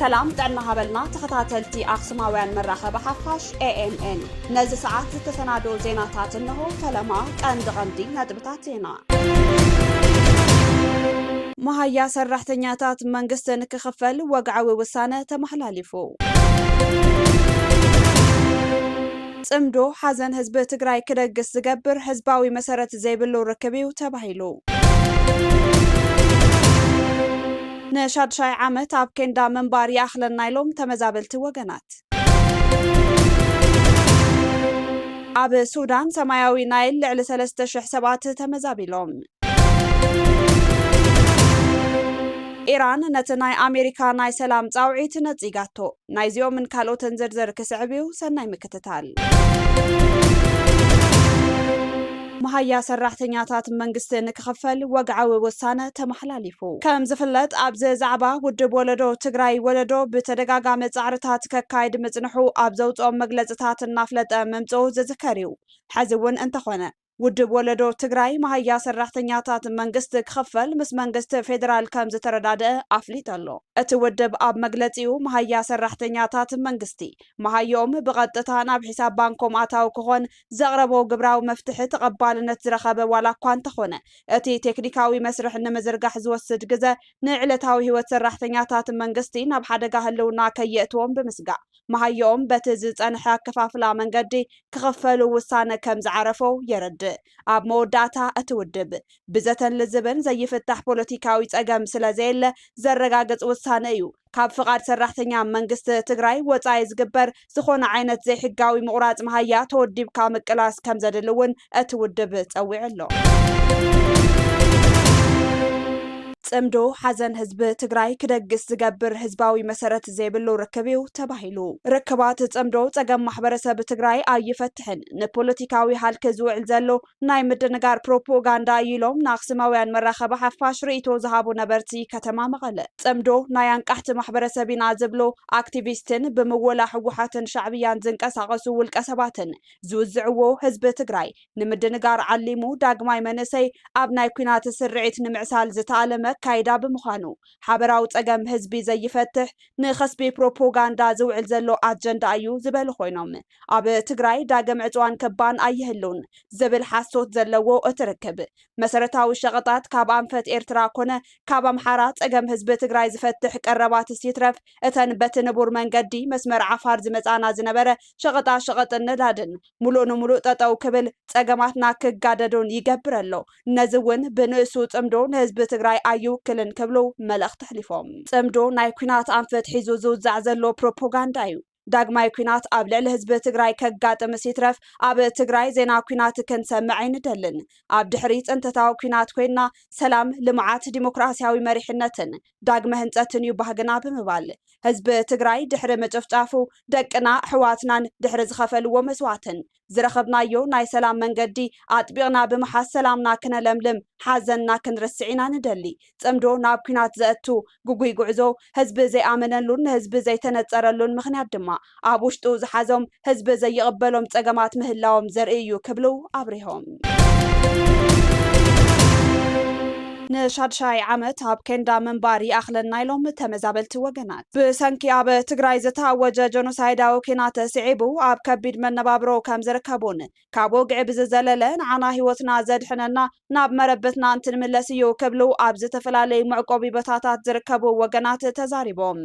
ሰላም ጥዕና ሃበልና ተኸታተልቲ ኣኽሱማውያን መራኸቢ ሓፋሽ ኤኤምኤን ነዚ ሰዓት ዝተሰናዶ ዜናታት እንሆ ፈለማ ቀንዲ ቀንዲ ነጥብታት ዜና መሃያ ሰራሕተኛታት መንግስቲ ንክኽፈል ወግዓዊ ውሳነ ተመሓላሊፉ። ፅምዶ ሓዘን ህዝቢ ትግራይ ክደግስ ዝገብር ህዝባዊ መሰረት ዘይብሉ ርክብ እዩ ተባሂሉ። ንሻድሻይ ዓመት ኣብ ኬንዳ ምንባር ይኣኽለና ኢሎም ተመዛበልቲ ወገናት። ኣብ ሱዳን ሰማያዊ ናይል ልዕሊ ሰለስተ ሽሕ ሰባት ተመዛቢሎም። ኢራን ነቲ ናይ ኣሜሪካ ናይ ሰላም ጻውዒት ነጺጋቶ። ናይዚኦምን ካልኦትን ዝርዝር ክስዕብ እዩ፣ ሰናይ ምክትታል። መሃያ ሰራሕተኛታት መንግስቲ ንክኽፈል ወግዓዊ ውሳነ ተመሓላሊፉ። ከም ዝፍለጥ ኣብዚ ዛዕባ ውድብ ወለዶ ትግራይ፣ ወለዶ፣ ብተደጋጋሚ ፃዕርታት ከካይድ ምፅንሑ ኣብ ዘውፅኦም መግለፅታት እናፍለጠ ምምፅኡ ዝዝከር ዩ። ሐዚ ውን እንተኾነ ውድብ ወለዶ ትግራይ መሃያ ሰራሕተኛታት መንግስቲ ክኽፈል ምስ መንግስቲ ፌዴራል ከም ዝተረዳደኣ ኣፍሊጡ ኣሎ። እቲ ውድብ ኣብ መግለፂኡ መሃያ ሰራሕተኛታት መንግስቲ መሃየኦም ብቐጥታ ናብ ሒሳብ ባንኮም ኣታዊ ክኾን ዘቕረቦ ግብራዊ መፍትሒ ተቐባልነት ዝረኸበ ዋላ እኳ እንተኾነ፣ እቲ ቴክኒካዊ መስርሕ ንምዝርጋሕ ዝወስድ ግዘ ንዕለታዊ ህይወት ሰራሕተኛታት መንግስቲ ናብ ሓደጋ ህልውና ከየእትዎም ብምስጋእ መሃየኦም በቲ ዝፀንሐ ኣከፋፍላ መንገዲ ክኽፈሉ ውሳነ ከምዝዓረፎ የረድእ። ኣብ መወዳእታ እቲ ውድብ ብዘተን ልዝብን ዘይፍታሕ ፖለቲካዊ ፀገም ስለዘየለ ዘረጋግፅ ውሳነ እዩ ካብ ፍቓድ ሰራሕተኛ መንግስቲ ትግራይ ወፃኢ ዝግበር ዝኾነ ዓይነት ዘይሕጋዊ ምቑራፅ መሃያ ተወዲብካ ምቅላስ ከምዘድሊ እውን እቲ ውድብ ፀዊዑ ኣሎ። ፅምዶ ሓዘን ህዝቢ ትግራይ ክደግስ ዝገብር ህዝባዊ መሰረት ዘይብሉ ርክብ እዩ ተባሂሉ። ርክባት ፅምዶ ፀገም ማሕበረሰብ ትግራይ ኣይፈትሕን፣ ንፖለቲካዊ ሃልኪ ዝውዕል ዘሎ ናይ ምድንጋር ፕሮፖጋንዳ እዩ ኢሎም ንኣኽሱማውያን መራኸቢ ሓፋሽ ርእይቶ ዝሃቡ ነበርቲ ከተማ መቐለ። ፅምዶ ናይ ኣንቃሕቲ ማሕበረሰብ ኢና ዝብሉ ኣክቲቪስትን ብምወላ ህወሓትን ሻዕብያን ዝንቀሳቐሱ ውልቀ ሰባትን ዝውዝዕዎ ህዝቢ ትግራይ ንምድንጋር ዓሊሙ ዳግማይ መንእሰይ ኣብ ናይ ኲናት ስርዒት ንምዕሳል ዝተኣለመ ኣካይዳ ብምዃኑ ሓበራዊ ፀገም ህዝቢ ዘይፈትሕ ንኸስቢ ፕሮፖጋንዳ ዝውዕል ዘሎ ኣጀንዳ እዩ ዝበሉ ኮይኖም ኣብ ትግራይ ዳግም ዕጽዋን ከባን ኣይህልውን ዝብል ሓሶት ዘለዎ እቲ ርክብ፣ መሰረታዊ ሸቐጣት ካብ ኣንፈት ኤርትራ ኮነ ካብ ኣምሓራ ጸገም ህዝቢ ትግራይ ዝፈትሕ ቀረባትስ ይትረፍ እተን በቲ ንቡር መንገዲ መስመር ዓፋር ዝመጽኣና ዝነበረ ሸቐጣሸቐጥን ነዳድን ሙሉእ ንሙሉእ ጠጠው ክብል ጸገማትና ክጋደዱን ይገብር ኣሎ። ነዚ እውን ብንእሱ ጽምዶ ንህዝቢ ትግራይ ኣይውክልን ክብሉ መልእኽቲ ኣሕሊፎም። ጽምዶ ናይ ኲናት ኣንፈት ሒዙ ዝውዛዕ ዘሎ ፕሮፖጋንዳ እዩ። ዳግማይ ኲናት ኣብ ልዕሊ ህዝቢ ትግራይ ከጋጥምስ ይትረፍ ኣብ ትግራይ ዜና ኲናት ክንሰምዕ ኣይንደልን። ኣብ ድሕሪ ፅንተታዊ ኲናት ኮይንና ሰላም፣ ልምዓት፣ ዲሞክራሲያዊ መሪሕነትን ዳግመ ህንፀትን እዩ ባህግና ብምባል ህዝቢ ትግራይ ድሕሪ ምጭፍጫፉ ደቅና፣ ኣሕዋትናን ድሕሪ ዝኸፈልዎ መስዋእትን ዝረኸብናዮ ናይ ሰላም መንገዲ ኣጥቢቕና ብምሓዝ ሰላምና ክነለምልም፣ ሓዘንና ክንርስዕ ኢና ንደሊ። ጽምዶ ናብ ኲናት ዘእቱ ግጉይ ጉዕዞ፣ ህዝቢ ዘይኣመነሉን ንህዝቢ ዘይተነጸረሉን ምኽንያት ድማ፣ ኣብ ውሽጡ ዝሓዞም ህዝቢ ዘይቕበሎም ጸገማት ምህላዎም ዘርኢ እዩ ክብሉ ኣብሪሆም። ንሻድሻይ ዓመት ኣብ ኬንዳ ምንባር ይኣኽለና ኢሎም ተመዛበልቲ ወገናት። ብሰንኪ ኣብ ትግራይ ዝተኣወጀ ጀኖሳይዳዊ ኲናት ስዒቡ ኣብ ከቢድ መነባብሮ ከም ዝርከቡን ካብ ወግዒ ብዝዘለለ ንዓና ህይወትና ዘድሕነና ናብ መረበትና እንትንምለስ እዩ ክብሉ ኣብ ዝተፈላለዩ መዕቆቢ ቦታታት ዝርከቡ ወገናት ተዛሪቦም።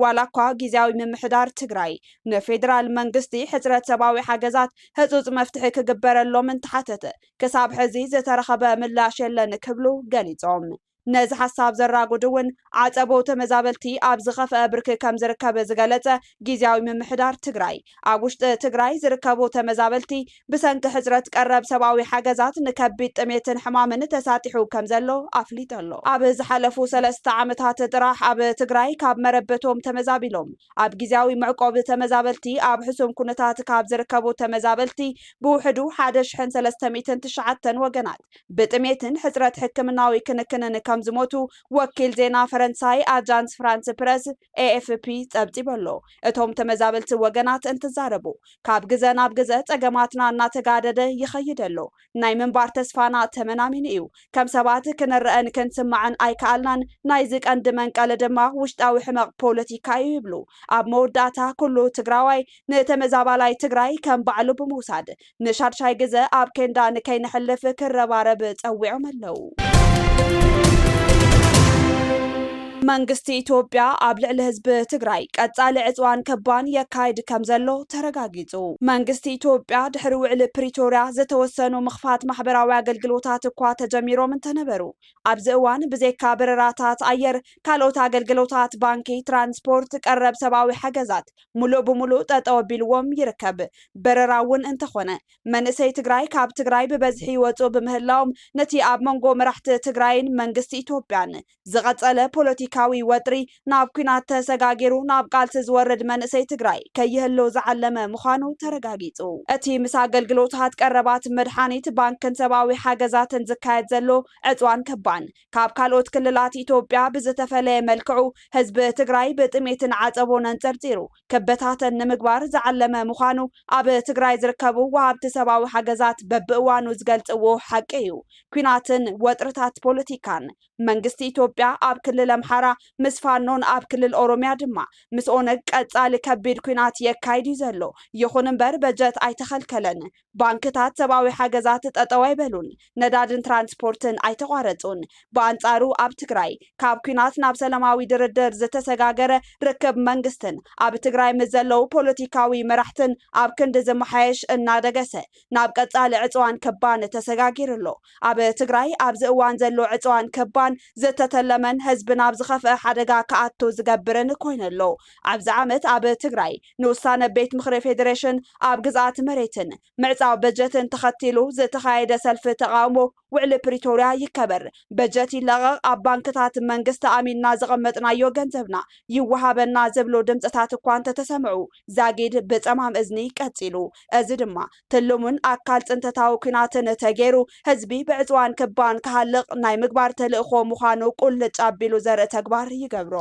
ዋላኳ ጊዚያዊ ምምሕዳር ትግራይ ንፌዴራል መንግስቲ ሕፅረት ሰብኣዊ ሓገዛት ህፁፅ መፍትሒ ክግበረሎም እንተሓተተ ክሳብ ሕዚ ዝተረኸበ ምላሽ የለን ክብሉ ገሊፆም። ነዚ ሓሳብ ዘራጉድ እውን ዓፀቦ ተመዛበልቲ ኣብ ዝኸፈኣ ብርኪ ከምዝርከብ ዝገለፀ ጊዚያዊ ምምሕዳር ትግራይ ኣብ ውሽጢ ትግራይ ዝርከቡ ተመዛበልቲ ብሰንኪ ሕጽረት ቀረብ ሰብኣዊ ሓገዛት ንከቢድ ጥሜትን ሕማምን ተሳጢሑ ከምዘሎ ኣፍሊጡ'ሎ። ኣብ ዝሓለፉ ሰለስተ ዓመታት ጥራሕ ኣብ ትግራይ ካብ መረበቶም ተመዛቢሎም ኣብ ግዝያዊ መዕቆቢ ተመዛበልቲ ኣብ ሕሱም ኩነታት ካብ ዝርከቡ ተመዛበልቲ ብውሕዱ ሓደ ሽሕን ሰለስተ ሚእትን ትሽዓተን ወገናት ብጥሜትን ሕጽረት ሕክምናዊ ክንክንን ከምዝሞቱ ወኪል ዜና ፈረንሳይ ኣጃንስ ፍራንስ ፕረስ፣ ኤኤፍፒ፣ ጸብጺቡ'ሎ። እቶም ተመዛበልቲ ወገናት እንትዛረቡ ካብ ግዘ ናብ ግዘ ፀገማትና እናተጋደደ ይኸይድ ኣሎ። ናይ ምንባር ተስፋና ተመናሚኑ እዩ። ከም ሰባት ክንረኣን ክንስማዕን ኣይከኣልናን፣ ናይዚ ቀንዲ መንቀሊ ድማ ውሽጣዊ ሕመቕ ፖለቲካ እዩ ይብሉ። ኣብ መወዳእታ ኩሉ ትግራዋይ ንተመዛባላይ ትግራይ ከም ባዕሉ ብምውሳድ ንሻድሻይ ግዘ ኣብ ኬንዳ ንከይነሕልፍ ክረባረብ ፀዊዖም ኣለው። መንግስቲ ኢትዮጵያ ኣብ ልዕሊ ህዝቢ ትግራይ ቀፃሊ ዕፅዋን ከባን የካይድ ከምዘሎ ተረጋጊፁ። መንግስቲ ኢትዮጵያ ድሕሪ ውዕሊ ፕሪቶርያ ዝተወሰኑ ምኽፋት ማሕበራዊ ኣገልግሎታት እኳ ተጀሚሮም እንተነበሩ ኣብዚ እዋን ብዘይካ በረራታት ኣየር ካልኦት ኣገልግሎታት ባንኪ፣ ትራንስፖርት፣ ቀረብ ሰብኣዊ ሓገዛት ሙሉእ ብሙሉእ ጠጠው ኣቢልዎም ይርከብ። በረራ እውን እንተኾነ መንእሰይ ትግራይ ካብ ትግራይ ብበዝሒ ይወፅኡ ብምህላዎም ነቲ ኣብ መንጎ መራሕቲ ትግራይን መንግስቲ ኢትዮጵያን ዝቐፀለ ፖለቲካዊ ወጥሪ ናብ ኲናት ተሰጋጊሩ ናብ ቃልሲ ዝወርድ መንእሰይ ትግራይ ከይህሉ ዝዓለመ ምዃኑ ተረጋጊፁ። እቲ ምስ ኣገልግሎታት ቀረባት መድሓኒት ባንክን ሰብኣዊ ሓገዛትን ዝካየድ ዘሎ ዕፅዋን ከባን ካብ ካልኦት ክልላት ኢትዮጵያ ብዝተፈለየ መልክዑ ህዝቢ ትግራይ ብጥሜትን ዓፀቦን ኣንፀርፂሩ ክበታተን ንምግባር ዝዓለመ ምዃኑ ኣብ ትግራይ ዝርከቡ ወሃብቲ ሰብኣዊ ሓገዛት በብእዋኑ ዝገልፅዎ ሓቂ እዩ። ኲናትን ወጥርታት ፖለቲካን መንግስቲ ኢትዮጵያ ኣብ ክልል ኣምሓራ ምስ ፋኖን ኣብ ክልል ኦሮሚያ ድማ ምስ ኦነግ ቀፃሊ ከቢድ ኲናት የካይድ እዩ ዘሎ። ይኹን እምበር በጀት ኣይተኸልከለን፣ ባንክታት ሰብኣዊ ሓገዛት ጠጠው ኣይበሉን፣ ነዳድን ትራንስፖርትን ኣይተቋረፁን። ብኣንፃሩ ኣብ ትግራይ ካብ ኲናት ናብ ሰላማዊ ድርድር ዝተሰጋገረ ርክብ መንግስትን ኣብ ትግራይ ምስ ዘለዉ ፖለቲካዊ መራሕትን ኣብ ክንዲ ዝመሓየሽ እናደገሰ ናብ ቀፃሊ ዕፅዋን ከባን ተሰጋጊሩ ኣሎ። ኣብ ትግራይ ኣብዚ እዋን ዘሎ ዕፅዋን ከባን ዝተተለመን ህዝቢ ናብ ዝኸፍኣ ሓደጋ ክኣቱ ዝገብርን ኮይኑ ኣሎ። ኣብዚ ዓመት ኣብ ትግራይ ንውሳነ ቤት ምኽሪ ፌዴሬሽን ኣብ ግዝኣት መሬትን ምዕፃው በጀትን ተኸቲሉ ዝተኻየደ ሰልፊ ተቓውሞ ውዕሊ ፕሪቶርያ ይከበር፣ በጀት ይለቐቕ፣ ኣብ ባንክታት መንግስቲ ኣሚንና ዘቐመጥናዮ ገንዘብና ይወሃበና ዝብሉ ድምፅታት እኳ እንተተሰምዑ ዛጊድ ብፀማም እዝኒ ቀፂሉ። እዚ ድማ ትልሙን ኣካል ፅንተታዊ ኲናትን ተገይሩ ህዝቢ ብዕፅዋን ክባን ክሃልቕ ናይ ምግባር ተልእኾ ምዃኑ ቁልጭ ኣቢሉ ዘርኢ ተግባር ይገብሮ።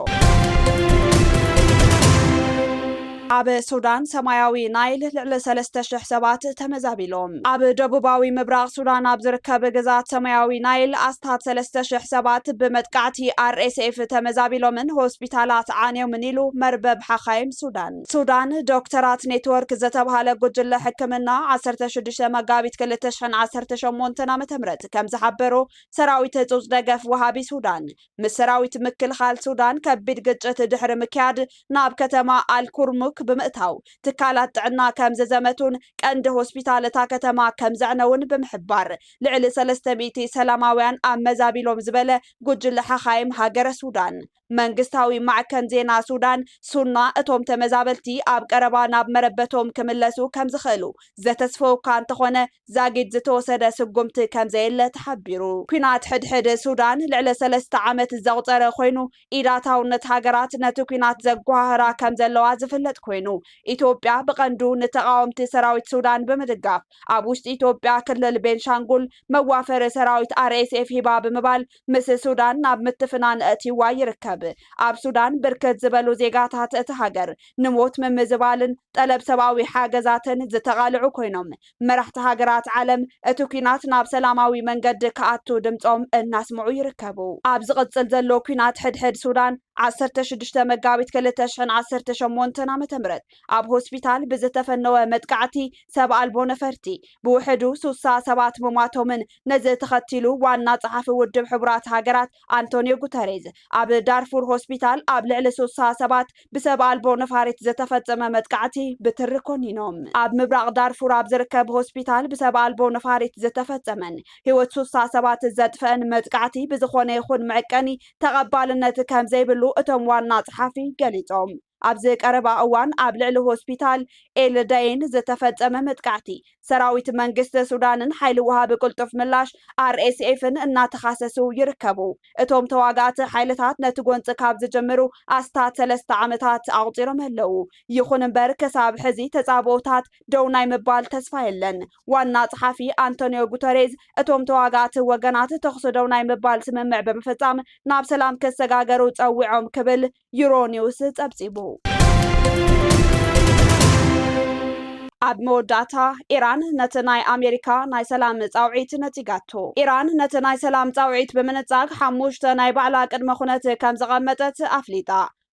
ኣብ ሱዳን ሰማያዊ ናይል ልዕሊ ሰለስተ ሽሕ ሰባት ተመዛቢሎም። ኣብ ደቡባዊ ምብራቕ ሱዳን ኣብ ዝርከብ ግዝኣት ሰማያዊ ናይል ኣስታት ሰለስተ ሽሕ ሰባት ብመጥቃዕቲ RSF ተመዛቢሎምን ሆስፒታላት ዓንዮምን ኢሉ መርበብ ሓኻይም ሱዳን። ሱዳን ዶክተራት ኔትወርክ ዝተብሃለ ጉጅለ ሕክምና ዓሰርተ ሽዱሽተ መጋቢት ክልተ ሽሕን ዓሰርተ ሸሞንተን ዓመተ ምህረት ከምዝሓበሮ ሰራዊት ህጹጽ ደገፍ ወሃቢ ሱዳን ምስ ሰራዊት ምክልኻል ሱዳን ከቢድ ግጭት ድሕሪ ምክያድ ናብ ከተማ ኣልኩርሙክ ብምእታው ትካላት ጥዕና ከምዝዘመቱን ቀንዲ ሆስፒታል እታ ከተማ ከምዘዕነውን ብምሕባር ልዕሊ ሰለስተ ሚእቲ ሰላማውያን ኣመዛቢሎም ዝበለ ጉጅለ ሓኻይም ሃገረ ሱዳን መንግስታዊ ማዕከን ዜና ሱዳን ሱና እቶም ተመዛበልቲ ኣብ ቀረባ ናብ መረበቶም ክምለሱ ከምዝኽእሉ ዘተስፈውካ እንተኾነ ዛጊድ ዝተወሰደ ስጉምቲ ከምዘየለ ተሓቢሩ። ኲናት ሕድሕድ ሱዳን ልዕሊ ሰለስተ ዓመት ዘቑፀረ ኮይኑ፣ ኢድ ኣታውነት ሃገራት ነቲ ኲናት ዘጎሃህራ ከምዘለዋ ዝፍለጥ ኮይኑ፣ ኢትዮጵያ ብቐንዱ ንተቓወምቲ ሰራዊት ሱዳን ብምድጋፍ ኣብ ውሽጢ ኢትዮጵያ ክልል ቤንሻንጉል መዋፈሪ ሰራዊት RSF ሂባ ብምባል ምስ ሱዳን ናብ ምትፍናን ኣእትይዋ ይርከብ። ኣብ ሱዳን ብርክት ዝበሉ ዜጋታት እታ ሃገር ንሞት ምምዝባልን ጠለብ ሰብኣዊ ሓገዛትን ዝተቓልዑ ኮይኖም፣ መራሕቲ ሃገራት ዓለም እቲ ኲናት ናብ ሰላማዊ መንገዲ ክኣቱ ድምጾም እናስምዑ ይርከቡ። ኣብ ዝቕጽል ዘሎ ኲናት ሕድሕድ ሱዳን፣ ዓሰርተ ሽዱሽተ መጋቢት ክልተ ሽሕን ዓሰርተ ሸሞንተን ዓመተ ምህረት ኣብ ሆስፒታል ብዝተፈነወ መጥቃዕቲ ሰብ ኣልቦ ነፈርቲ ብውሕዱ ሱሳ ሰባት ምሟቶምን ነዚ ተኸቲሉ ዋና ጸሓፊ ውድብ ሕቡራት ሃገራት ኣንቶንዮ ጉተሬዝ ኣብ ዳርፉር ሆስፒታል ኣብ ልዕሊ ሱሳ ሰባት ብሰብ ኣልቦ ነፋሪት ዝተፈጸመ መጥቃዕቲ ብትሪ ኮኒኖም። ኣብ ምብራቕ ዳርፉር ኣብ ዝርከብ ሆስፒታል ብሰብ ኣልቦ ነፋሪት ዝተፈጸመን ህይወት ሱሳ ሰባት ዘጥፈእን መጥቃዕቲ ብዝኾነ ይኹን መዕቀኒ ተቐባልነት ከምዘይብሉ እቶም ዋና ጸሓፊ ገሊጾም። ኣብዚ ቀረባ እዋን ኣብ ልዕሊ ሆስፒታል ኤል ዳዬን ዝተፈጸመ መጥቃዕቲ፣ ሰራዊት መንግስቲ ሱዳንን ሓይሊ ወሃቢ ቅልጡፍ ምላሽ፣ RSF፣ ን እናተኻሰሱ ይርከቡ። እቶም ተዋጋእቲ ሓይልታት ነቲ ጎንጺ ካብ ዝጅምሩ ኣስታት ሰለስተ ዓመታት ኣቑጺሮም ኣለዉ። ይኹን እምበር ክሳብ ሕዚ ተጻብኦታት ደው ናይ ምባል ተስፋ የለን። ዋና ጸሓፊ ኣንቶንዮ ጉተሬዝ እቶም ተዋጋእቲ ወገናት ተኹሲ ደው ናይ ምባል ስምምዕ ብምፍጻም ናብ ሰላም ክሰጋገሩ ጸዊዖም ክብል ዩሮኒውስ ፀብፂቡ። ኣብ መወዳእታ ኢራን ነቲ ናይ ኣሜሪካ ናይ ሰላም ፃውዒት ነፂጋቶ። ኢራን ነቲ ናይ ሰላም ፃውዒት ብምንፃግ ሓሙሽተ ናይ ባዕላ ቅድመ ኹነት ከም ዘቐመጠት ኣፍሊጣ።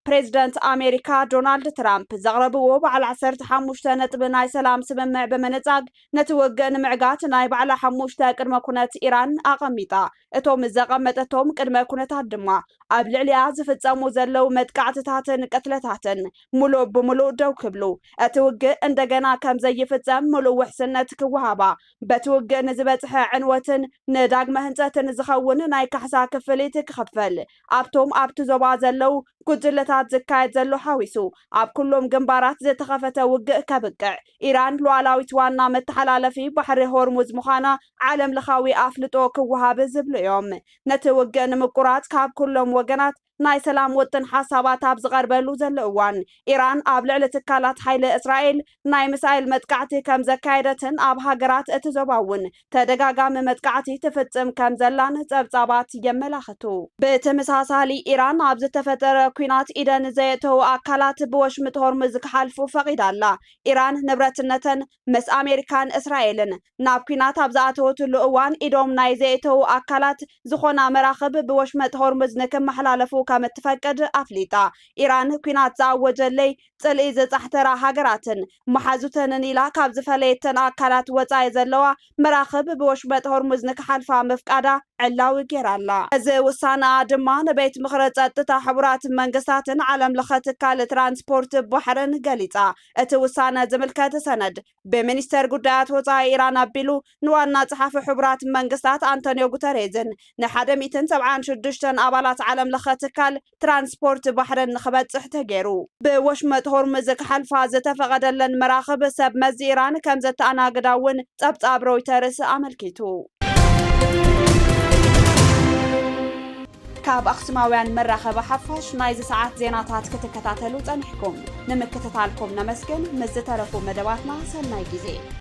ፕሬዝደንት ኣሜሪካ ዶናልድ ትራምፕ ዘቕረብዎ በዓል ዓሰርተ ሓሙሽተ ነጥቢ ናይ ሰላም ስምምዕ ብምንፃግ ነቲ ውግእ ንምዕጋት ናይ ባዕላ ሓሙሽተ ቅድመ ኩነት ኢራን ኣቐሚጣ። እቶም ዘቐመጠቶም ቅድመ ኩነታት ድማ ኣብ ልዕሊኣ ዝፍጸሙ ዘለዉ መጥቃዕትታትን ቅትለታትን ምሉእ ብምሉእ ደው ክብሉ፣ እቲ ውግእ እንደገና ከም ዘይፍጸም ምሉእ ውሕስነት ክወሃባ፣ በቲ ውግእ ንዝበጽሐ ዕንወትን ንዳግመ ህንጸትን ዝኸውን ናይ ካሕሳ ክፍሊት ክኽፈል፣ ኣብቶም ኣብቲ ዞባ ዘለዉ ጉጅለታት ዝካየድ ዘሎ ሓዊሱ ኣብ ኩሎም ግንባራት ዝተኸፈተ ውግእ ከብቅዕ፣ ኢራን ሉዓላዊት ዋና መተሓላለፊ ባሕሪ ሆርሙዝ ምዃና ዓለም ለኻዊ ኣፍልጦ ክወሃብ ዝብሉ እዮም። ነቲ ውግእ ንምቁራጽ ካብ ኩሎም ወገናት ናይ ሰላም ውጥን ሓሳባት ኣብ ዝቐርበሉ ዘሎ እዋን፣ ኢራን ኣብ ልዕሊ ትካላት ሓይሊ እስራኤል ናይ ሚሳይል መጥቃዕቲ ከምዘካየደትን ኣብ ሃገራት እቲ ዞባ እውን ተደጋጋሚ መጥቃዕቲ ትፍጽም ከምዘላን ጸብጻባት የመላኽቱ። ብተመሳሳሊ ኢራን ኣብ ዝተፈጠረ ኲናት ኢደን ዘየእተዉ ኣካላት ብወሽምጥ ሆርሙዝ ክሓልፉ ፈቒዳ ኣላ። ኢራን ንብረትነተን ምስ ኣሜሪካን እስራኤልን ናብ ኲናት ኣብ ዝኣተወትሉ እዋን ኢዶም ናይ ዘየእተዉ ኣካላት ዝኾና መራኽብ ብወሽመጥ ሆርሙዝ ንክመሓላለፉ ከምትፈቅድ ኣፍሊጣ። ኢራን ኲናት ዝኣወጀለይ ጽልኢ ዘጻሕተራ ሃገራትን መሓዙተንን ኢላ ካብ ዝፈለየተን ኣካላት ወጻኢ ዘለዋ መራኽብ ብወሽመጥ ሆርሙዝ ንክሓልፋ ምፍቃዳ ዕላዊ ገይራ ኣላ። እዚ ውሳነኣ ድማ ንቤት ምኽሪ ጸጥታ ሕቡራት መንግስታትን ዓለም ለኸ ትካል ትራንስፖርት ባሕርን ገሊጻ። እቲ ውሳነ ዝምልከት ሰነድ ብሚኒስተር ጉዳያት ወጻኢ ኢራን ኣቢሉ ንዋና ጸሓፊ ሕቡራት መንግስታት ኣንቶንዮ ጉተሬዝን ንሓደ ሚእትን ሰብዓን ሽዱሽተን ኣባላት ዓለም ለኸ ትካል ትራንስፖርት ባሕርን ንኽበጽሕ ተገይሩ። ብወሽመጥ ሆርሙዝ ክሓልፋ ዝተፈቐደለን መራኽብ ሰብ መዚ ኢራን ከም ዘተኣናግዳ እውን ጸብጻብ ሮይተርስ ኣመልኪቱ። ካብ ኣኽሱማውያን መራኸቢ ሓፋሽ ናይዚ ሰዓት ዜናታት ክትከታተሉ ጸኒሕኩም ንምክትታልኩም ነመስግን። ምስ ዝተረፉ መደባትና ሰናይ ግዜ።